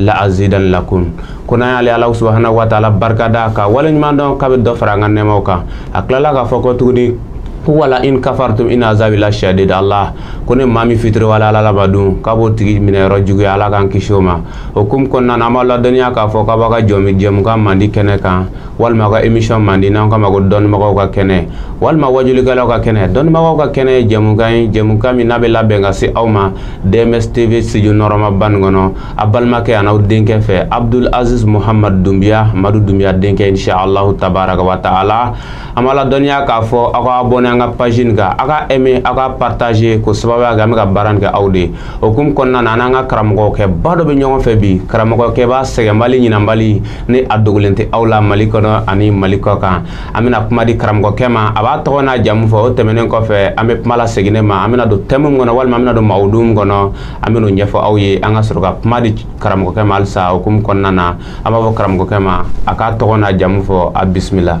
la azidan lakum ko n'an y'ale ala subahana wa taala barika da k'a waleɲumandɔn k'a bɛ dɔ fara an ka nɛɛmaw kan a tilala k'a fɔ ko tuguni ko wala in kafartum in azabi la shadid allah ko ni maa min fitiriwaleyala ala ma dun k'a b'o tigi minɛyɔrɔ juguya ala k'an kisi o ma o hukumu kɔnɔna na an b'aw ladɔnniya k'a fɔ k'an b'an ka jɔmi jɛmukan mandi kɛnɛ kan walima an ka emisɔn mandi n'an k'a ma ko dɔnnibagaw ka kɛnɛ walima wajulikɛlaw ka kɛnɛ dɔnnibagaw ka kɛnɛ ye jɛmukan ye jɛmukan min n'a bɛ labɛn ka se aw ma dms tv studio nɔɔrɔmaba nin kɔnɔ aw balimakɛ an'aw denkɛ fɛ abdul aziz muhammad dunbiya madu dunbiya denkɛ insha allahu tabaraka wa taala an b'aw ladɔnniya k'a fɔ aw ka abɔne an ka page nin kan aw ka aimer aw ka partager k'o sababuya kɛ an bɛ ka baara nin kɛ aw de o hukumu kɔnɔna na an n'an ka karamɔgɔkɛba dɔ bɛ ɲɔgɔn fɛ bi karamɔgɔkɛba sɛgɛnbali ɲinanbali ni a dogolen tɛ aw la mali kɔnɔ ani mali kɔ kan an bɛna kuma di karamɔgɔkɛ ma a b'a tɔgɔ n'a jamu fɔ o tɛmɛnen kɔfɛ an bɛ kuma lasegin ne ma an bɛna don tɛmu min kɔnɔ walima an bɛna don mawudu min kɔnɔ an bɛn'o ɲɛfɔ aw ye an ka sɔrɔ ka kuma di karamɔgɔkɛ ma halisa o hukumu kɔnɔna na an b'a fɔ karamɔgɔkɛ ma a k'a tɔgɔ n'a jamu fɔ a bisimila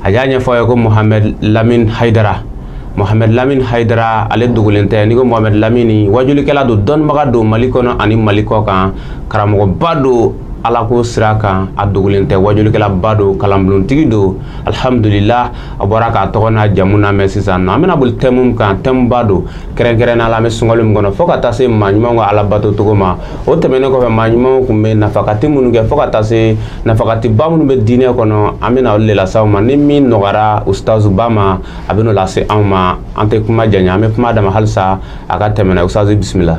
a y'a ɲɛfɔ a ye ko mohamɛd lamin hayidara mohamɛd lamin hayidara ale dogolen tɛ n'i ko mohamɛd lamini wajulikɛla don dɔnnibaga don mali kɔnɔ ani mali kɔ kan karamɔgɔba don alako sira kan a dogolen tɛ wajulikɛlaba don kalanbolontigi don alihamdulila aw bɔra k'a tɔgɔ n'a jamu lamɛn sisan na an bɛna boli tɛmu min kan tɛmuba don kɛrɛnkɛrɛnnenya la an bɛ sunkalo min kɔnɔ fo ka taa se maa ɲumanw ka ala bato cogo ma o tɛmɛnen kɔfɛ maa ɲumanw tun bɛ nafakati minnu kɛ fo ka taa se nafakatiba minnu bɛ diinɛ kɔnɔ an bɛna olu de lase aw ma ni min nɔgɔyara ustazuba ma a bɛn'o lase anw ma an tɛ kuma janya an bɛ kuma d'a ma halisa a ka tɛmɛ n'a ustazu bisimila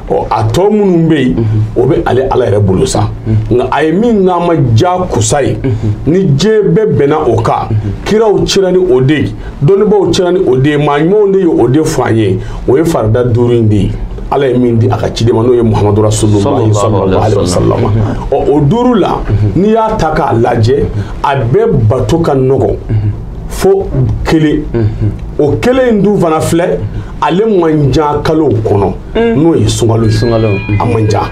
ɔ a tɔ minnu bɛ yen o bɛ ale ala yɛrɛ bolo sa nka a ye min k'an ma jakuya ye ni diɲɛ bɛɛ bɛnna o kan kiraw cira ni o de ye dɔnnibaaw cira ni o de ye maa ɲumanw de ye o de fɔ an ye o ye farida duuru in de ye ala ye min di a ka ciden ma n'o ye muhamadu rasulullahi sallallahu alaihi wasallam ɔ o duuru la n'i y'a ta k'a lajɛ a bɛɛ bato ka nɔgɔn fo kelen o kelen in dun fana filɛ ale man ca kalow kɔnɔ n'o ye sunkalo ye a man ca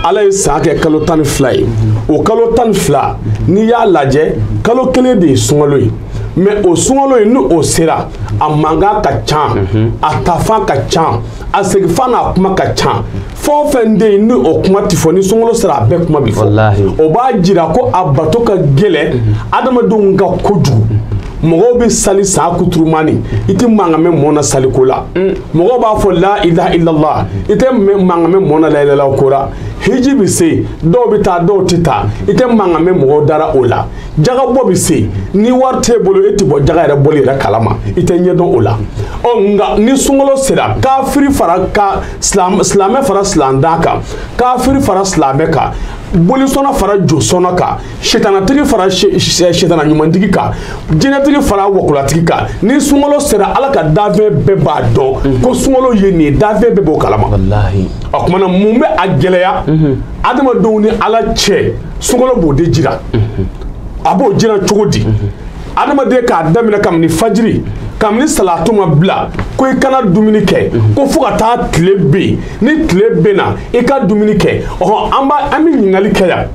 ala ye san kɛ kalo tan ni fila ye o kalo tan ni fila n'i y'a lajɛ kalo kelen de ye sunkalo ye mɛ o sunkalo ye ni o sera a mankan ka ca a taafan ka ca a segifan n'a kuma ka ca fɛn o fɛn bɛ yen ni o kuma ti fɔ ni sunkalo sera a bɛɛ kuma bi fɔ o b'a jira ko a bato ka gɛlɛn adamadenw kan kojugu mɔgɔw bɛ sali sa kuturumani i tɛ mankan mɛn mɔɔ na saliko la mm. mɔgɔw b'a fɔ la ilaha illallah i tɛ mankan mɛn mɔɔ na la ilaha ko la hiji bɛ se dɔw bɛ taa dɔw tɛ taa i tɛ mankan mɛn mɔgɔw dara o la jagabɔ bɛ se ni wari t'e bolo e tɛ bɔ jaga yɛrɛ bɔli yɛrɛ kalama i tɛ ɲɛdɔn o la ɔ nka ni sunkalo sera kafiri fara ka silamɛ fara silamɛden kan kafiri fara silamɛ kan bolisɔnna fara josɔnna kan sitanatigi fara sitana ɲumantigi kan jinɛtigi fara wɔkulɔtigi kan ni sunkalo sera ala ka danfɛn bɛɛ b'a dɔn mhm. ko sunkalo ye nin ye danfɛn bɛɛ b'o kalama o kuma na mun bɛ a gɛlɛya mhm. adamadenw ni ala cɛ sunkalo b'o de jira mhm. a b'o jira cogo di adamaden k'a daminɛ kabini fajiri kabini salatu ma bila ko i kana dumuni kɛ ko fo ka taa tile ben ni tile benna i ka dumuni kɛ ɔhɔ an b'a an bɛ ɲininkali kɛ yan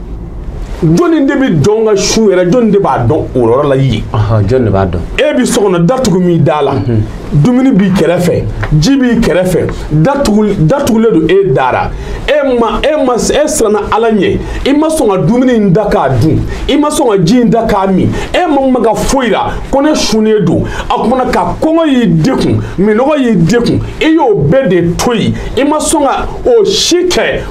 jɔnni de bɛ dɔn ka sun yɛrɛ jɔnni de b'a dɔn o yɔrɔ la yen jɔnni de b'a dɔn e bɛ so kɔnɔ datugu min da la mhm. dumuni b'i kɛrɛfɛ ji b'i kɛrɛfɛ datugu datugulen don e dara e ma e ma e siranna ala ɲɛ i ma sɔn ka dumuni in ta k'a dun i ma sɔn ka ji in ta k'a min e ma maga foyi la ko ne sunnen don a kuma na ka kɔngɔ y'i degun minɔgɔ y'i degun i y'o bɛɛ de to yen i ma sɔn ka o si kɛ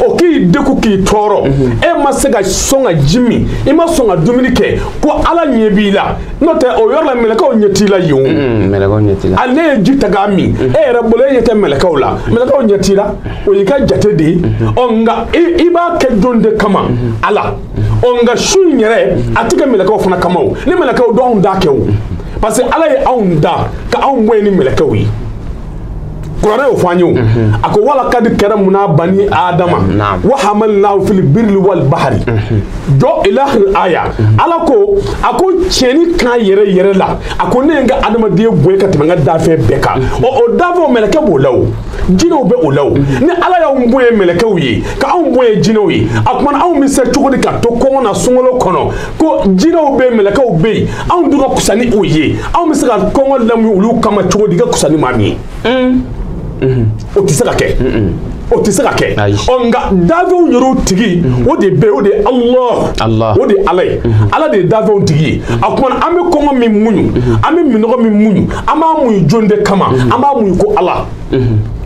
o k'i degun k'i tɔɔrɔ e ma se ka sɔn ka ji min i ma sɔn ka dumuni kɛ ko ala ɲɛ b'i la n'o tɛ o yɔrɔ la mɛlɛkɛw ɲɛ t'i la yen o hali n'e ye ji ta k'a min e yɛrɛ bolo e ɲɛ tɛ mɛlɛkɛw la mɛlɛkɛw ɲɛ t'i la o y'i ka jate de ye ɔ nka i b'a kɛ jɔn de kama ala ɔ nka sun in yɛrɛ a tɛ kɛ mɛlɛkɛw fana kama o ni mɛlɛkɛw don anw t'a kɛ o parce que ala ye anw da ka anw bonya ni mɛlɛkɛw ye kuranɛ y'o fɔ an ye o a ko wa lakad karamuna bani adama wa hamalnahu fil birri wal bahari jɔ ila akhir aya ala ko a ko tiɲɛni kan yɛrɛ yɛrɛ la a ko ne ye n ka adamadenya bonya ka tɛmɛ n ka dafɛn bɛɛ kan ɔ o dafɛnw mɛlɛkɛ b'o la o jinɛw bɛ o la o ni ala y'anw bonya mɛlɛkɛw ye ka anw bonya jinɛw ye a kuma na anw bɛ se cogo di ka to kɔngɔ na sunkalo kɔnɔ ko jinɛw bɛ mɛlɛkɛw bɛ yen anw dun ka kusa ni o ye anw bɛ se ka kɔngɔ lamuɲu olu kama cogo di ka kusa ni maa min ye mm. mm-hmm. o tɛ se ka kɛ o tɛ se ka kɛ ɔ nka dafɛnw yɛrɛw tigi o de bɛ o de ye alahu o de ye ala ye ala de ye dafɛnw tigi ye a kuma na an bɛ kɔngɔ min muɲu an bɛ minɔgɔ min muɲu an b'a muɲu jɔni de kama an b'a muɲu ko ala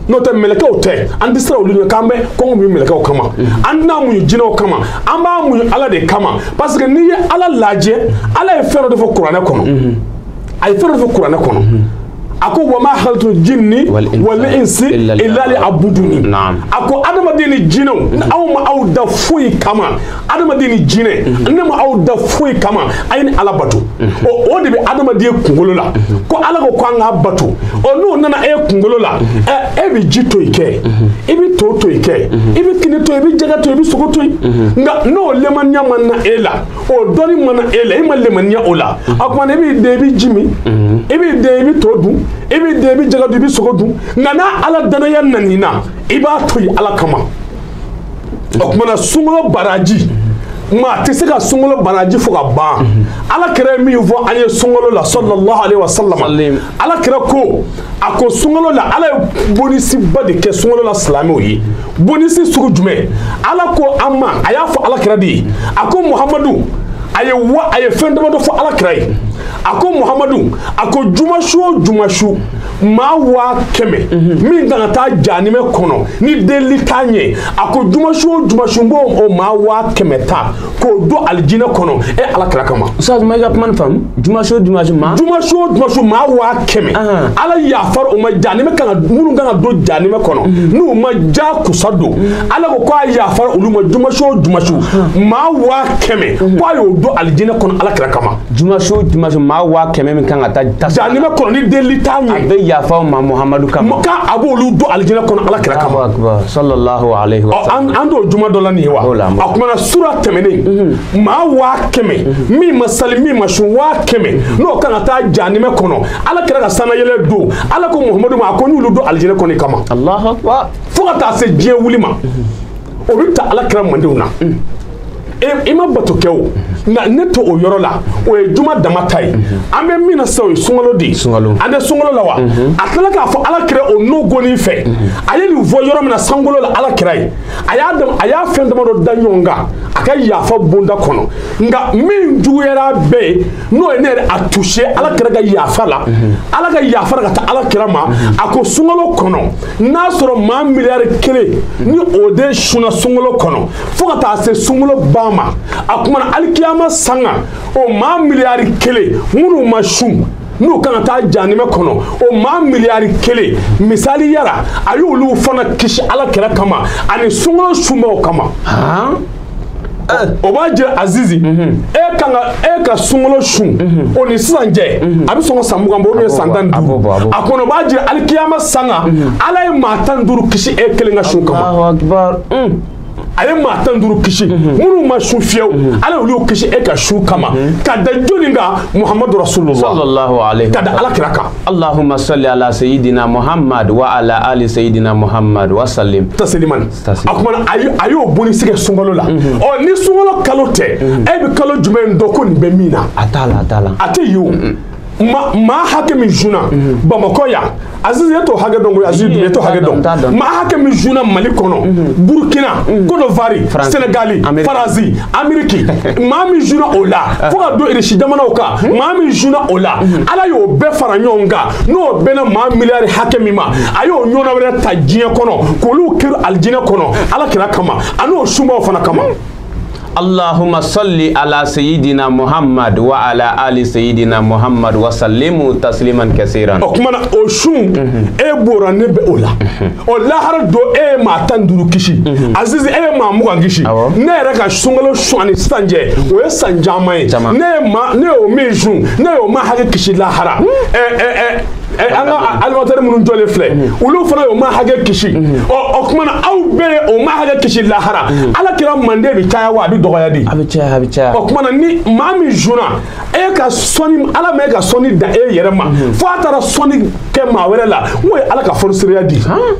n'o tɛ mɛlɛkɛw tɛ an tɛ siran olu ɲɛ k'an bɛ kɔngɔ muɲu mɛlɛkɛw kama an tɛna muɲu jinɛw kama an b'a muɲu ala de kama parce que n'i ye ala lajɛ ala ye fɛn dɔ de fɔ kuranɛ kɔnɔ a ye fɛn dɔ de fɔ kuranɛ kɔnɔ a ko wama khalaqtul jinni wal insi illa liya'buduni a ko adamaden ni jinɛw anw ma aw da foyi kama adamaden ni jinɛ mhm. ne ma aw da foyi kama a ye ne ala bato mhm. o de bɛ adamaden kunkolo la mhm. ko ala ko ko an k'a bato ɔ n'o nana e kunkolo la e bɛ ji to yen kɛ i bɛ to to yen kɛ i bɛ kini to yen i bɛ jɛgɛ to yen i bɛ sogo to yen nka n'o lemaniya ma na e la o dɔnni ma na e la e ma lemaniya o la a kuma na i b'i den i bɛ ji min i b'i den i bɛ to dun i b'i den i bɛ jɛgɛ dun i bɛ sogo dun nka n'a ala dannaya nan'i na i b'a to yen ala kama. o kumana sunkalo baraji maa tɛ se ka sunkalo baraji fɔ ka ban ala kira ye min fɔ an ye sunkalo la sallallahu alaihi wa sallam ala kira ko a ko sunkalo la ala ye bonisiba de kɛ sunkalo la silamɛw ye bonisi sugu jumɛn ala ko an ma a y'a fɔ ala kira de ye a ko muhamadu a ye wa a ye fɛn damadɔ fɔ ala kira ye a ko muhamadu a ko juma su o juma su maa waa kɛmɛ min kan ka taa janimɛ kɔnɔ ni delili t'a ɲɛ a ko juma su o juma su n b'o o maa waa kɛmɛ ta k'o don alijinɛ kɔnɔ e ala kira kama. usitazi n ma i ka kuma nin faamu juma su o juma su maa. juma su o juma su maa waa kɛmɛ. ala yafara o ma janimɛ kan ka minnu kan ka don janimɛ kɔnɔ mhm. n'u ma ja kusa don mhm. ala ko k'a yafara olu ma juma su o juma su maa waa kɛmɛ mhm. k'a y'o don alijinɛ kɔnɔ ala kira kama. juma su juma su maa waa kɛmɛ min kan ka taa janima kɔnɔ ni delili t'a ɲɛ a bɛ yafa a ma muhamadu kama kan a b'olu don alijinɛ kɔnɔ ala kira kama sallallahu alaihi wa sallam an t'o juma don la nin ye wa a kumana sura tɛmɛnen mhm. maa waa kɛmɛ mhm. min ma sali min ma sun waa kɛmɛ mhm. n'o kan ka taa janima kɔnɔ ala kira ka sanayɛlɛ don ala ko muhamadu ma a ko n y'olu don alijinɛ kɔnɔ kama fo ka taa se diɲɛ wuli ma o bɛ ta ala kira maadenw na i ma bato kɛ o nka ne t'o yɔrɔ la o ye juma dama ta ye an bɛ min na sisan o ye sunkalo de ye an tɛ sunkalo la wa a tilala k'a fɔ ala kira o nɔgɔnin fɛ a ye nin fɔ yɔrɔ min na sankolo la ala kira ye a y'a fɛn damadɔ da ɲɔgɔn kan a ka yafa bonda kɔnɔ nka min juguyara bɛɛ ye n'o ye ne yɛrɛ a touché ala kira ka yafa la ala ka yafa la ka taa ala kira ma a ko sunkalo kɔnɔ n'a sɔrɔ maa miliyari kelen ni o de sunna sunkalo kɔnɔ fo ka taa se sunkolo ban ma a kumana alikiyama sanga o maa miliyari kelen minnu ma sun n'u kan ka taa janimɛ kɔnɔ o maa miliyari kelen misaliya la a y'olu fana kisi ala kira kama ani sunkolo sunbaw kama o b'a jira azizi e ka sunkolo sun o ni sisan cɛ a bɛ sɔn ka san mugan bɔ ou bien san tan ni duuru a kɔnɔ o b'a jira alikiyama sanga ala ye maa tan ni duuru kisi e kelen ka sun kama a ye maa tan duuru kisi mhm. minnu ma sun fiyewu mhm. ala y'olu kisi e ka sun kama mhm. ka da jɔnni kan muhamadu rasulullah ka da ala kira kan allahumma salli ala sayyidina muhammad wa ala ali sayyidina muhammad wa sallim tasliman a kumana a y'o bonya sigi sunkalo la ɔ ni sunkalo kalo tɛ e bɛ kalo jumɛn dɔn ko nin bɛ min na a t'a la a t'a la a tɛ yen o maa hakɛ min sunna bamakɔ yan Aziz e t'o hakɛ dɔn koyi Aziz e t'o hakɛ dɔn maa hakɛ min sunna Mali kɔnɔ mhm. Burkina mhm. Côte d'Ivoire Sénégal Faransi Amérique maa min sunna o la ah. fo ka don Irisi jamanaw kan mhm. maa min sunna o la Ala y'o bɛɛ fara ɲɔgɔn kan n'o bɛnna maa miliyari hakɛ min ma a y'o ɲɔgɔnna wɛrɛ ta diɲɛ kɔnɔ k'olu kɛrun alijinɛ kɔnɔ Ala kira kama ani o sunbaaw fana kama Allahumma salli ala sayyidina Muhammad wa ala ali sayyidina Muhammad wa sallimu tasliman kasiran o kumana o sun e b'o ra ne bɛ o la o lahara don e ye maa tan ni duuru kisi azizi e ye maa mugan kisi Awɔ. ne yɛrɛ ka sunkalo sun ani sisan cɛ o ye san caman ye Caman. ne ye maa ne y'o min sun ne y'o maa hakɛ kisi lahara ɛ ɛ ɛ Eh, an ka animatɛri minnu jɔlen filɛ olu fana y'o maa hakɛ kisi ɔ o tuma na aw bɛɛ ye o maa hakɛ kisi lahara ala kira mande bɛ caya wa a bɛ dɔgɔya de a bɛ caya a bɛ caya o tuma na ni maa min sunna e ka sɔnni ala ma e ka sɔnni dan e yɛrɛ ma fo a taara sɔnni kɛ maa wɛrɛ la n'o ye ala ka fonisireya di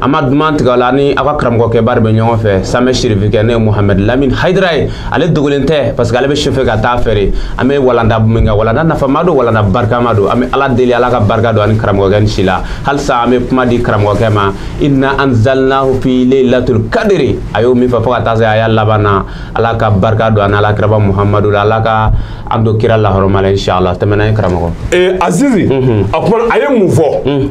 an ma duman tigɛ la ni aw ka karamɔgɔkɛ baara bɛ ɲɔgɔn fɛ samɛ sirifikɛ ne ye muhammed lamini hayidara ye ale dogolen tɛ parce que ale bɛ sufɛ ka taa fɛre an bɛ walanda min kɛ walanda nafama don walanda barikama don an bɛ ala deli ala ka barika don ani karamɔgɔkɛ ni si la halisa an bɛ kuma di karamɔgɔkɛ ma inna anzalnahu fi laylatul kadiri a y'o min fɔ fo ka taa se a y'a laban na ala ka barika don ani ala kiraba muhamadu la ala ka an don kira lahɔrɔma la inshallah tɛmɛna ye karamɔgɔ ee azizi a kuma a ye mun fɔ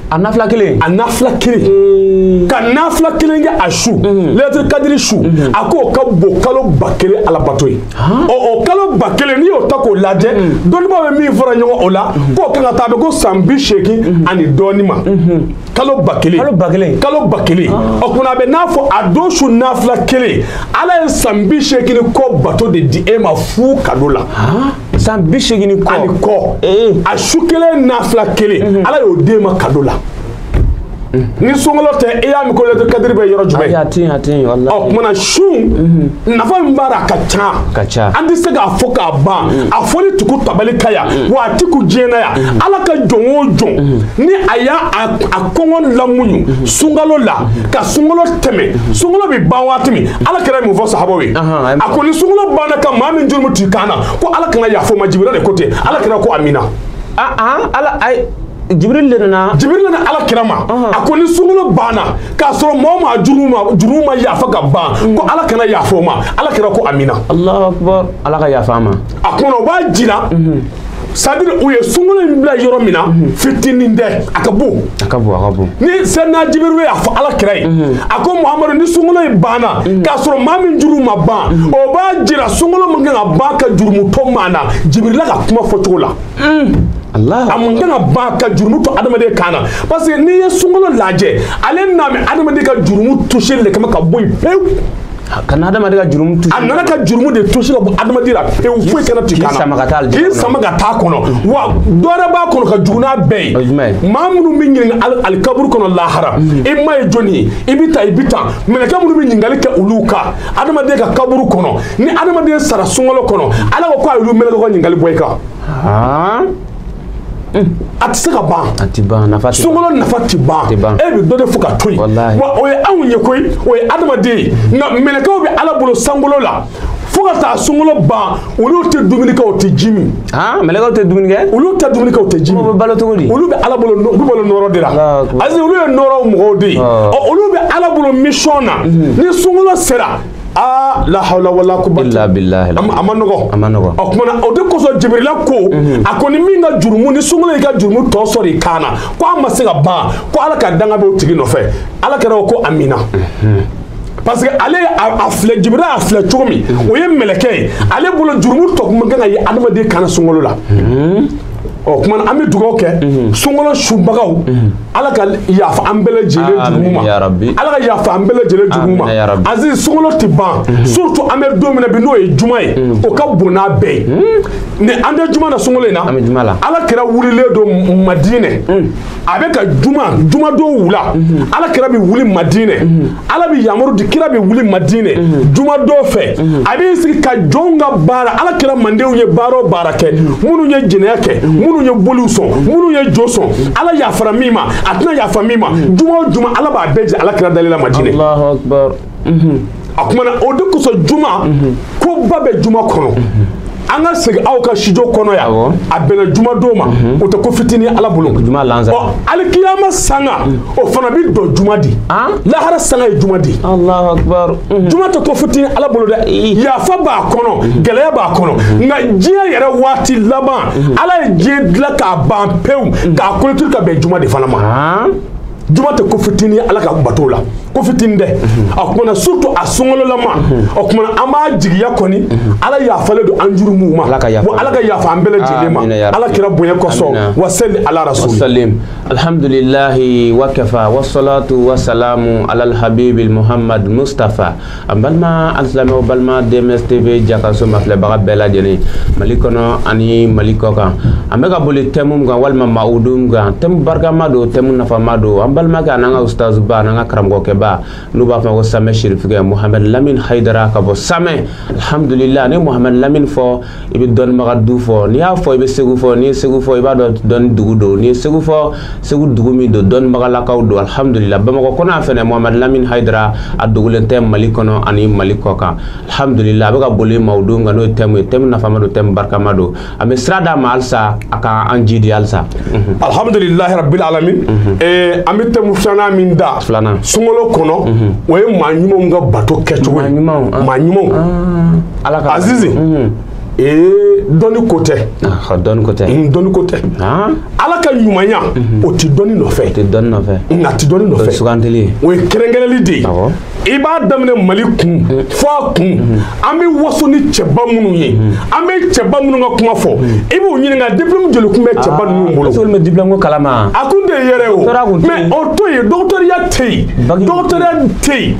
a nafila kelen a nafila kelen hmm. ka nafila kelen kɛ a su hmm. laylatul kadiri su hmm. a k'o ka bon kalo ba kelen ala bato ye ɔ o kalo ba kelen n'i y'o ta k'o lajɛ dɔnnibaa bɛ min fara ɲɔgɔn o la k'o kan ka taa a bɛ ko san bi seegin ani dɔɔni ma kalo ba kelen kalo ba kelen kalo ba kelen ah. ɔ kunna a bɛ n'a fɔ a don su nafila kelen ala ye san bi seegin ni kɔ bato de di e ma fu kado la ah. san bi seegin ni kɔ ani kɔ eh. a su kelen nafila kelen mhm. ala y'o di an ma kado la mhm. ni sunkalo tɛ i y'a mɛn ko laylatul kadiri bɛ yɔrɔ jumɛn ɔ kumana sun mhm. nafa min b'a la a ka ca ka ca an tɛ se k'a fɔ k'a ban a fɔli tɛ kun tabali kan yan wa a tɛ kun diɲɛ na yan ala ka jɔn o jɔn ni a y'a a kɔngɔ lamuɲu sunkalo la ka sunkalo tɛmɛ sunkalo bɛ ban waati min ala kira ye mun fɔ sahabaw ye a ko ni sunkalo banna ka maa min jurumu t'i kan ko ala kana yaf'o ma jibirila de ko ten ala kira ko amina ah, ah, ala ay jibril de nana jibril nana ala kira ma a ko ni sunkalo banna k'a sɔrɔ mɔɔ ma jurumu ma yafa ka ban mm. ko ala kana yaf'o ma ala kira ko amina alahu akbar ala ka yafa an ma a kɔnɔ o b'a jira mm-hmm. c'est-à-dire o ye sunkolo in bila yɔrɔ min na mhm. fitinin tɛ a ka bon a ka bon a ka bon ni sɛnɛna jibirila y'a fɔ ala kira ye mhm. a ko muhamadu ni sunkolo in banna mhm. k'a sɔrɔ maa min jurumu ma ban o b'a jira sunkolo man kan ka ban ka jurumu to maa na jibirila ka kuma fɔcogo la mm. a man kan ka ban ka jurumu to adamaden kan na parce que n'i ye sunkolo lajɛ ale nanen bɛ adamaden ka jurumu tusi le kama ka bɔ yen pewu ka na adamaden ka jurumu tusi a nana ka jurumu de tusi ka bɔ adamaden la pewu foyi kana t'i kan na k'i sama ka taa k'i sama ka taa kɔnɔ wa dɔ wɛrɛ b'a kɔnɔ ka jugu n'a bɛɛ ye maa minnu b'i ɲininka alikaburu kɔnɔ lahara i ma ye jɔni ye i bɛ taa i bɛ taa mɛlɛkɛ minnu bɛ ɲininkali kɛ olu kan adamaden ka kaburu kɔnɔ ni adamaden sara sunkalo kɔnɔ ala ko k'a y'olu mɛlɛkɛ ka ɲininkali bɔ i kan. a tɛ se ka ban a tɛ ban nafa tɛ sunkalo nafa tɛ ban tɛ ban e bɛ dɔ de fɔ ka to yen walahi wa o ye anw ye koyi o ye adamaden ye nka mɛlɛkɛw bɛ ala bolo sankolo la fo ka taa sunkalo ban olu tɛ dumuni kɛ u tɛ ji min aa mɛlɛkɛw tɛ dumuni kɛ olu tɛ dumuni kɛ u tɛ ji min olu bɛ balo cogo di olu bɛ ala bolo u bɛ balo nɔɔrɔ de la Allahu akbar. ayi olu ye nɔɔrɔ mɔgɔw de ye ɔ olu bɛ ala bolo mission na ni sunkalo sera aa lahawla wala kuwata illa billahi a ma nɔgɔ a ma nɔgɔ o kumana o de kosɔn jibirila ko mhm. a ko ni min ka jurumu ni sunkalo y'i ka jurumu tɔ sɔrɔ i kan na ko a ma se ka ban ko ala ka danga bɛ o tigi nɔfɛ ala kira ko amina mhm. parce que ale a filɛ jibirila a filɛ cogo min mhm. o ye mɛlɛkɛ ye ale bolo jurumu tɔ kun man kan ka ye adamaden kan na sunkalo la o kuma an bɛ dugawu kɛ mhm. sunkalo sunbagaw mhm. ala ka yafa an bɛɛ lajɛlen jurumu ma ala ka yafa an bɛɛ lajɛlen jurumu ma azi sunkalo tɛ ban mhm. surtout an bɛ don min na bi n'o ye juma ye o ka bon n'a bɛɛ ye ni an tɛ juma na sunkalo in na ala kira wulilen don madinɛ a bɛ ka juma juma don wula mhm. ala kira bɛ wuli madinɛ mhm. ala bɛ yamaru di kira bɛ wuli madinɛ mhm. juma don fɛ a bɛ sigi ka jɔnw ka baara ala kira mandenw ye baara o baara kɛ minnu ye jɛnɛya kɛ minnu ye boliw sɔn minnu ye jo sɔn ala yafara min ma a tɛna yafa min ma juma o juma ala b'a bɛɛ jira ala kira dalen na madinɛ a kumana o de kosɔn juma ko ba bɛ juma kɔnɔ an ka segin aw ka studio kɔnɔ yan a bɛnna juma don ma o tɛ ko fitinin ala bolo alikiyama sanga o fana bɛ dɔn juma di lahara sanga ye juma di juma tɛ ko fitinin ala bolo dɛ yafa b'a kɔnɔ gɛlɛya b'a kɔnɔ nka diɲɛ yɛrɛ waati laban ala ye diɲɛ dilan k'a ban pewu k'a clôturer ka bɛn juma de fana ma juma tɛ ko fitinin ye ala ka bato la ko fitinin tɛ a kumana surtout a sunkalolama o kumana an b'a jigiya kɔni ala yafalen don an jurumu ma bon ala ka yafa an bɛɛ lajɛlen ma ala kira bonya kosɔn wa sali ala rasuli alhamdulilahi wa kafa wa salatu wa salamu ala alhabibi muhammad mustafa an balima alisilamɛw balima dms tv jakaso mafilɛbaga bɛɛ lajɛlen mali kɔnɔ ani mali kɔ kan an bɛ ka boli tɛmu min kan walima mawudu min kan tɛmu barikama don tɛmu nafama don an balimakɛ an'an ka ustazuba an'an ka karamɔgɔkɛba n'u b'a fɔ ko samɛ sirifikɛ mohamɛd lamin hayidara ka bɔ samɛ alhamdulila n'i ye mohamɛd lamin fɔ i bɛ dɔnnibaga du fɔ n'i y'a fɔ i bɛ segu fɔ n'i ye segu fɔ i b'a dɔn dɔnni dugu don n'i ye segu fɔ segu dugu min don dɔnnibagalakaw don alihamudulila bamakɔ kɔnɔ yan fɛnɛ mohamadu lamini hayidara a dogolen tɛ mali kɔnɔ ani mali kɔ kan alihamudulila a bɛ ka boli mawudu min kan n'o ye tɛmu ye tɛmu nafama don tɛmu barikama don an bɛ sira d'a ma halisa a ka an jiidi halisa alihamudulilahi rabbil alamin eh, an bɛ tɛmu filanan min da filanan sunkalo kɔnɔ o ye maa ɲumanw ka bato kɛcogo ye maa ɲumanw ah. ala ka azizi mhm. ee dɔnni ko tɛ ah, dɔnni ko tɛ mm, dɔnni ko tɛ ah. ala ka ɲumanya mhm. o tɛ dɔnni nɔfɛ o tɛ dɔnni nɔfɛ n k'a tɛ dɔnni nɔfɛ sugandili ye o ye kɛrɛnkɛrɛnli de ye i b'a daminɛ mali kun mhm. fo a kun mhm. an bɛ waso ni cɛba minnu ye an bɛ cɛba minnu ka kuma fɔ i b'u ɲininka diplôme joli kun bɛ cɛba ah, ninnu bolo sɔli bɛ diplôme ko kalama a kun tɛ yɛrɛ o mais o to yen dɔgɔtɔrɔya tɛ yen dɔgɔtɔrɔya tɛ yen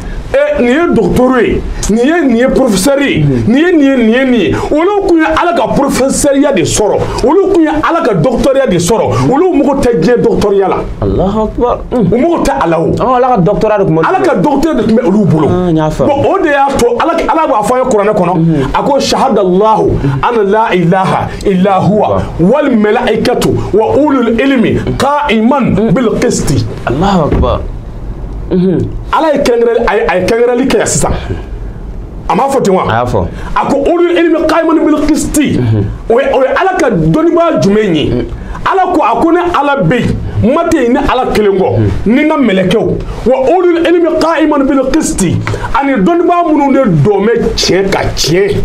nin ye dɔgɔtɔrɔ ye nin ye nin ye porofesɛri ye nin ye nin ye nin ye nin ye olu kun ye ala ka porofesɛriya de sɔrɔ olu kun ye ala ka dɔgɔtɔrɔya de sɔrɔ olu mago tɛ diɲɛ dɔgɔtɔrɔya la u mago tɛ ala o ala ka dɔgɔtɔrɔya de kun bɛ ala ka dɔgɔtɔrɔ de kun bɛ olu bolo o de y'a to ala ala b'a fɔ a ye kuranɛ kɔnɔ a ko sahadalahu ana la ilaha illa huwa wal malaikatu wa ulul ilmi qa'iman bil qisti Allahu akbar ala ye kɛrɛnkɛrɛnli kɛ sisan a m'a fɔ ten wa a y'a fɔ a ko ulul ilmi qa'iman bil qisti o ye ala ka dɔnnibaa jumɛn ye ala ko a ko ne ala bɛ yen ma tɛ yen ne ala kelen kɔ ni n ka mɛlɛkɛw wa ulul ilmi qa'iman bil qisti ani dɔnnibaa minnu de dɔn bɛ tiɲɛ kan tiɲɛ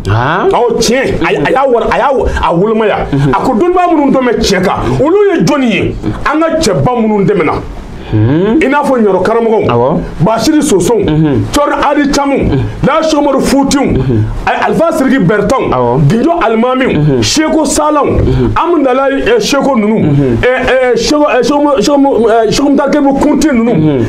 awɔ tiɲɛ a y'a wari a y'a a wolomaya mhm. a ko dɔnnibaa minnu dɔn bɛ tiɲɛ kan mhm. olu ye jɔnni ye mhm. an ka cɛba minnu tɛmɛna i n'a fɔ ɲɔrɔ karamɔgɔw basiri sosow cɛrino adi camu laji omaru futiw alifa siriki bɛrɛtɛw gijo alimamiw seko salaw amdala seko ninnu seko mutakebu kunti ninnu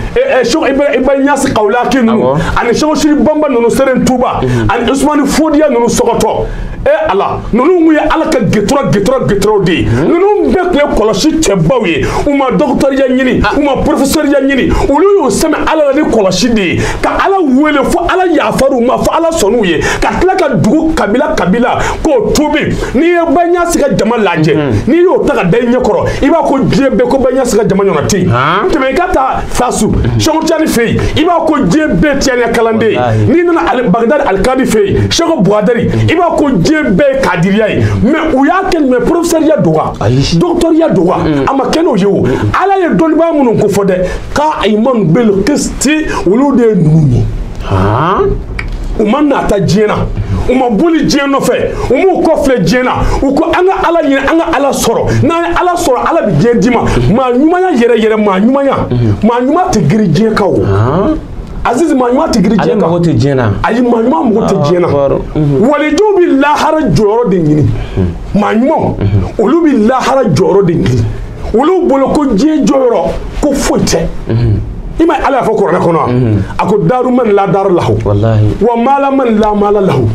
iba ɲasi kawulaki ninnu ani seko siri banba ninnu seren tuba mhm. ani usumani fodiya ninnu sɔgɔtɔ e ala ninnu tun ye ala ka getura getura geturaw de ye mhm. ninnu bɛɛ tun ye kɔlɔsi cɛbaw ye u ma dɔgɔtɔrɔya ɲini ah. u ma porofesɔriya ɲini olu y'u sɛmɛ ala la ni kɔlɔsi de ye ka ala wele fo ala yafar'u ma fo ala sɔnn'u ye ka tila ka dugu kabila kabila k'u tuubi n'i ye baɲasi ka jama lajɛ mm-hmm. n'i y'o ta ka da i ɲɛ kɔrɔ i b'a ko diɲɛ bɛɛ ko baɲasi ka jama ɲɔgɔn tɛ yen tɛmɛ i ka taa fasu mm-hmm. sɛku tijani fɛ yen i b'a ko diɲɛ bɛɛ tijaniya kalanden ye n'i nana bagidadi alikadi fɛ yen sɛku buwadari mm-hmm. i b'a ko diɲɛ bɛɛ ye kadiriya ye mɛ u y'a kɛ mɛ porofesɛriya don wa dɔgɔtɔriya don wa a ma kɛ n'o ye o ala ye dɔnnibaa minnu ko fɔ dɛ qa'iman bil qisti olu de ye ninnu ye u ma nata diɲɛ na u ma boli diɲɛ nɔfɛ u m'u kɔfilɛ diɲɛ na u ko an ka ala ɲini an ka ala sɔrɔ n'an ye ala sɔrɔ ala bɛ diɲɛ d'i ma maa ɲumanya yɛrɛ yɛrɛ maa ɲumanya maa ɲuman tɛ giri diɲɛ kan o azizi maa ɲuman tɛ giri diɲɛ kan ale tɛ diɲɛ na ayi maa ɲuman mago tɛ diɲɛ na walijuw bɛ lahara jɔyɔrɔ de ɲini maa ɲumanw olu bɛ lahara jɔyɔrɔ de ɲini olu bolo ko diɲɛ jɔyɔrɔ ko foyi tɛ i ma ala y'a fɔ kuranɛ kɔnɔ wa a ko daru man la daru lahu wa mala man la mala lahu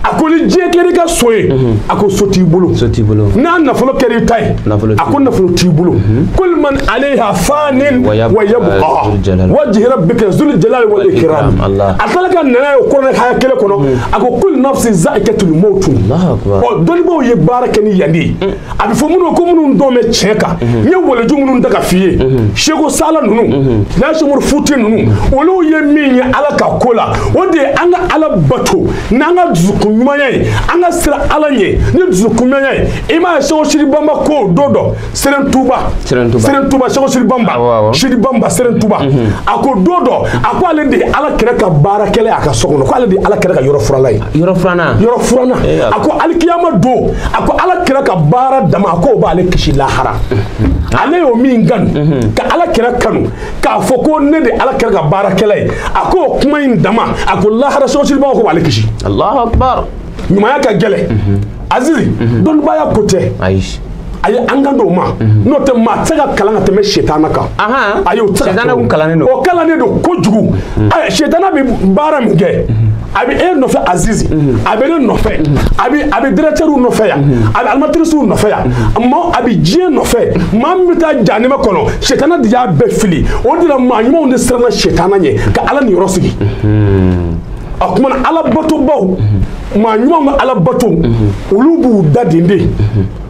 a ko ni diɲɛ kɛra i ka so ye a ko so t'i bolo n'a nafolo kɛra i ta ye a ko nafolo t'i bolo kul man alayha fanin wa yabqa wajhi rabbika zul jalali wal ikram a tila ka na n'a ye kuranɛ haya kelen kɔnɔ a ko kul nafsin zaikatul maut ɔ dɔnnibaw ye baara kɛ ni yan de ye a bɛ fɔ minnu ko minnu dɔn bɛ tiɲɛ kan n ye waliju minnu da ka f'i ye seko sala ninnu seko umaru futi ninnu olu ye min ye ala ka ko la o de ye an ka ala bato n'an ka dusukun ɲumanya ye an ka siran ala ɲɛ ni dusukun ɲumanya ye i m'a ye seko siri banba ko don dɔ seren tuba seren tuba seko siri banba siri banba seren tuba a ko don dɔ a ko ale de ye ala kira ka baarakɛla ye a ka so kɔnɔ ko ale de ye ala kira ka yɔrɔ furanna ye yɔrɔ furanna yɔrɔ furanna a ko alikiyama don a ko ala kira ka baara dama a k'o b'ale kisi lahara ale y'o min kan ka ala kira kanu k'a fɔ ko ne de ala kira ka baarakɛla ye a k'o kuma in dama a ko lahara seko siri banba k'o b'ale kisi alahu akbar ɲumanya ka gɛlɛn azizi dɔnnibaya ko tɛ ayi ayi an kan t'o ma n'o tɛ maa tɛ se ka kalan ka tɛmɛ setana kan ayi o tɛ se ka kɛ o kalannen don kojugu setana bɛ baara min kɛ a bɛ e nɔfɛ azizi mhm. a bɛ ne nɔfɛ mhm. a bɛ a bɛ dirɛkitɛriw nɔfɛ yan mhm. a bɛ animatirisiw nɔfɛ yan ma a bɛ diɲɛ nɔfɛ maa min bɛ taa jahanama kɔnɔ sɛtana de y'a bɛɛ fili o de la maa ɲumanw de siranna sɛtana ɲɛ ka ala niyɔrɔ sigi a kuma na ala batobaw maa ɲumanw ka ala bato olu b'u da den de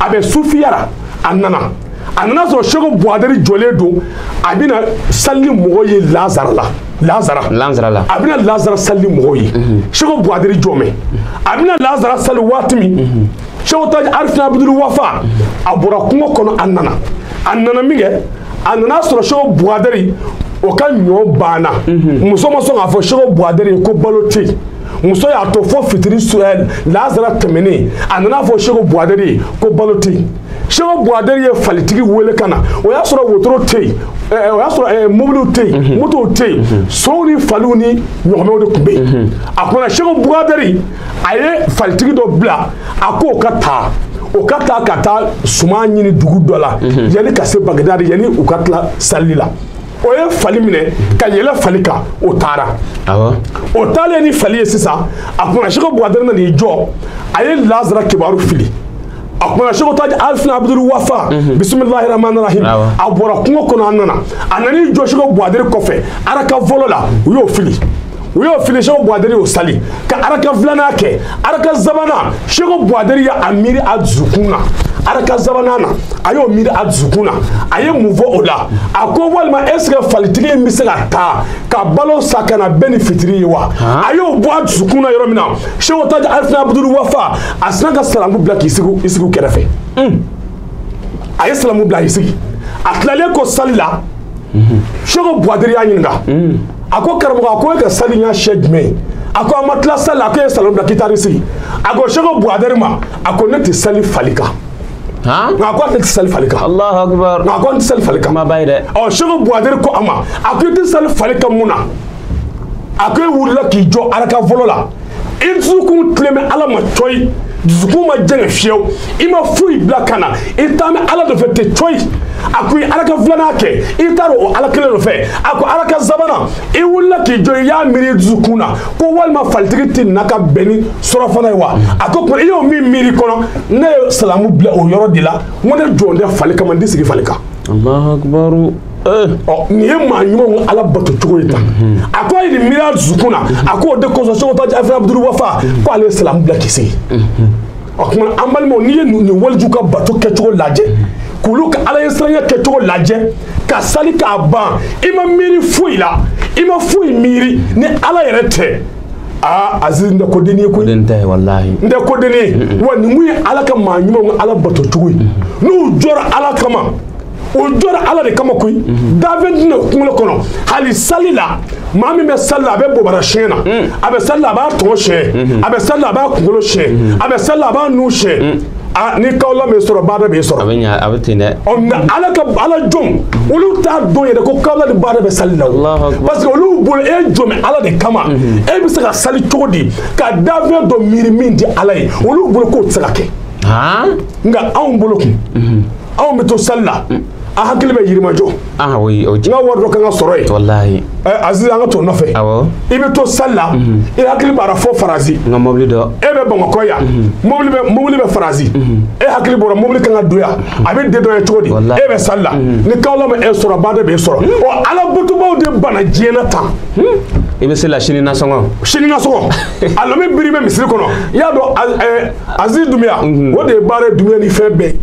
a bɛ sufiyara a nana a nana sɔrɔ seko buwadari jɔlen don a bɛna sali ni mɔgɔ ye lazara la lazara lazara la a bɛna lazara sali ni mɔgɔ ye mhm. seko buwadari jɔmɛ a bɛna lazara sali waati min mhm. seko taji arifina abudulu wafa mhm. a bɔra kungo kɔnɔ a nana a nana min kɛ a nana sɔrɔ seko buwadari o ka ɲɔ banna muso ma sɔn k'a fɔ seko buwadari ye ko balo tɛ yen muso y'a to fo fitiri eh, lazara tɛmɛnen a nana fɔ seko buwadɛri ye ko balo tɛ yen seko buwadɛri ye falitigi wele ka na o y'a sɔrɔ wotoro tɛ yen eh, eh, o y'a sɔrɔ mobiliw tɛ yen mhm. motow tɛ yen mhm. sow ni faliw ni ɲɔgɔmɛw de tun bɛ yen mhm. a kumana seko buwadɛri a ye falitigi dɔ bila a k'o ka taa o ka taa ka taa suman ɲini dugu dɔ la yanni ka se bagidadi yanni u ka tila sali la o ye fali minɛ ka yɛlɛ fali kan o taara o taalen ni fali ye sisan a kumana seko buwadɛrɛ na n'i jɔ a ye lazara kibaru fili a kumana seko taji arifina abudulu wafa mhm. bisimilahi rahmani rahim a bɔra kungo kɔnɔ a nana a nan'i jɔ seko buwadɛrɛ kɔfɛ araka fɔlɔ la u y'o fili u y'o fili seko buwaderi y'o sali ka araka filanan kɛ araka sabanan seko buwaderi ye a miiri a dusukun na araka sabanan na a y'o miiri a dusukun na a ye mun fɔ o la a ko walima est ce que falitigi in bɛ se ka taa ka balo san ka na bɛn ni fitiri ye wa a y'o bɔ a dusukun na yɔrɔ min na seko taji arifina abudulu wafa a sina ka salamu bila k'i sigi i sigi u kɛrɛfɛ a ye salamu bila k'i sigi a tilalen kɔ sali la seko buwaderi y'a ɲininka a ko karamɔgɔ a ko e ka sali y'a sɛ jumɛn ye a ko an ma tila sali a ko e ye salamu bila ka taa i sigi a ko seko buwadɛri ma a ko ne tɛ sali fali kan nka a ko a tɛ sali fali kan nka a ko an tɛ sali fali kan ɔ seko buwadɛri ko a ma a ko i tɛ sali fali kan mun na a ko e wulila k'i jɔ araka fɔlɔ la i dusukun tilen bɛ ala ma cɔyi dusukun ma jɛngɛ fiyewu i ma foyi bila ka na i taa bɛ ala nɔfɛ ten cɔyi a ko i araka filanan kɛ i taara o ala kelen nɔfɛ a ko araka sabanan i wulila k'i jɔ i y'a miiri i dusukun na ko walima falitigi tɛ na ka bɛn ni surafana ye wa a ko i y'o min miiri kɔnɔ ne ye salamu bila o yɔrɔ de la n ko ne jɔlen tɛ fali kama n tɛ sigi fali kan. nin ye maa ɲumanw ala bato cogo ye tan a ko a ye nin miiri a dusukun na a k'o de kosɔn seko taji arifina abudulu wafa ko ale ye salamu bila k'i sigi o tuma an balimaw n'i ye nin waliju ka bato kɛcogo lajɛ k'olu ka ala ɲɛsiranya kɛcogo lajɛ ka sali k'a ban i ma miiri foyi la i ma foyi miiri ni ala yɛrɛ tɛ aa aziz nin tɛ ko dennin ye koyi nin tɛ walahi nin tɛ ko dennin ye wa nin kun ye ala ka maa ɲumanw ala bato cogo ye n'u jɔra ala kama o jɔra ala de kama koyi dafɛn tɛ n'a kunkolo kɔnɔ hali sali la maa min bɛ sali la a bɛ bobara siɲɛ na a bɛ sali la a b'a tɔgɔ siɲɛ a bɛ sali la a b'a kunkolo siɲɛ a bɛ sali la a b'a nu siɲɛ a ni kawla bɛ sɔrɔ baada bɛ sɔrɔ a bɛ ɲa a bɛ ten dɛ ɔ nka ala ka ala jɔn olu t'a dɔn yɛrɛ ko kawla ni baada bɛ sali la parce que olu bolo e jɔn bɛ ala de kama e bɛ se ka sali cogo di ka dafɛn dɔ miiri min tɛ ala ye olu bolo k'o tɛ se ka kɛ nka anw bolo kun anw bɛ to sali la an hakili bɛ yirimajɔ ah oui o n ka wari dɔ kan ka sɔrɔ yen walahi ɛ eh, aziz an ka t'o nɔfɛ awɔ i bɛ to sali la mhm. i hakili b'a ra fo faransi n ka mɔbili dɔ e bɛ bamakɔ yan mhm. mɔbili bɛ mɔbili bɛ faransi mhm. e hakili b'o ra mɔbili kan ka don yan a bɛ dédouané cogo di e bɛ sali la ni kawla ma e sɔrɔ baada b'e sɔrɔ ɔ ala batobaw de bana diɲɛ na tan i bɛ sali la sini nasɔngɔ sini nasɔngɔ alimami biri bɛ misiri kɔnɔ i y'a dɔn aziz dumiya mhm. o de ye baara ye dumiya ni fɛn bɛɛ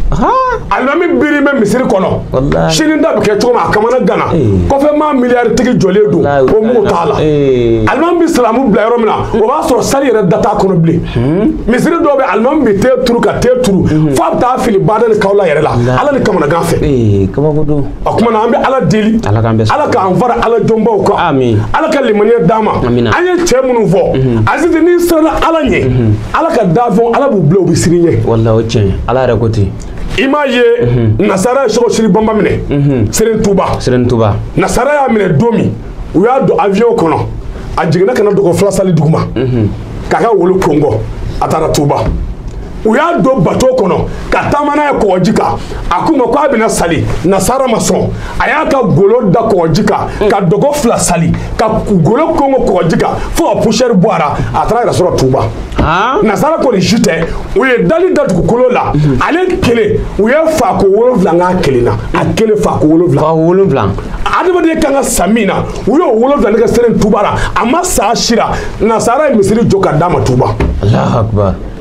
alimami biri bɛ misiri kɔnɔ sini da bɛ kɛ cogo min a kamana gana eh. kɔfɛ maa miliyari tigi jɔlen don o mako t'a la eh. alimami bɛ salamu bila yɔrɔ min na hmm. o b'a sɔrɔ sali yɛrɛ da t'a kɔnɔ bilen hmm. misiri dɔw bɛ alimami bɛ ten turu ka ten turu hmm. f'a bɛ taa fili baada ni kawla yɛrɛ la ala ni kamana gan fɛ eh, o tuma na an bɛ ala deli ala k'an fara ala jɔnbaw kan ala ka limaniya d'an ma an ye cɛ minnu fɔ mhm. aziz n'i siranna ala ɲɛ mhm. ala ka dafɛnw ala b'u bila u bɛ siran i ɲɛ walahi o tiɲɛ ala yɛrɛ ko ten i m'a ye mhm. nasara ye sɔgɔ siri bamba minɛ seren tuba seren tuba nasara y'a minɛ don min u y'a don avion kɔnɔ a jiginna ka na dɔgɔ fila sali duguma k'a ka wolo kɔnkɔn a taara tuba u y'a don bato kɔnɔ ka taama n'a ye kɔgɔji kan a k'u ma ko a bɛna sali nasara ma sɔn a y'a ka golo da kɔgɔji kan mm. ka dɔgɔ fila sali ka golo kɔnkɔn kɔgɔji kan fo ka pusɛri bɔ a ra a taara yɛrɛ sɔrɔ tuba ah. nasara kɔni ju tɛ u ye dali da dugukolo la mm-hmm. ale kelen u ye faako wolonwula n k'a kelen na a mm. kelen faako wolonwula faako wolonwula adamaden kan ka sa min na u y'o wolonwula ne kɛ seren tuba la a ma sa sira nasara ye misiri jɔ ka d'a ma tuba alahu akubar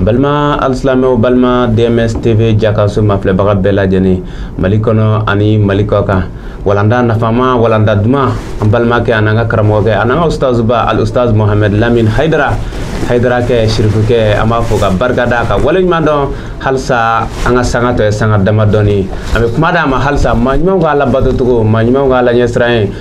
balima alisilamɛw balima dms tv jakaso mafilɛbaga bɛɛ lajɛlen mali kɔnɔ ani mali kɔ kan walanda nafama walanda duman an balimakɛ an'an ka karamɔgɔkɛ an'an ka ustazuba al ustaz mohamɛd lamin haidara haidara kɛ sirifukɛ an b'a fo ka barika da ka wale ɲuman dɔn halisa an ka sanga tɔ ye sanga dama dɔɔni an bɛ kuma d'a ma halisa maa ɲumanw ka ala bato cogo maa ɲumanw ka ala ɲɛsiran ye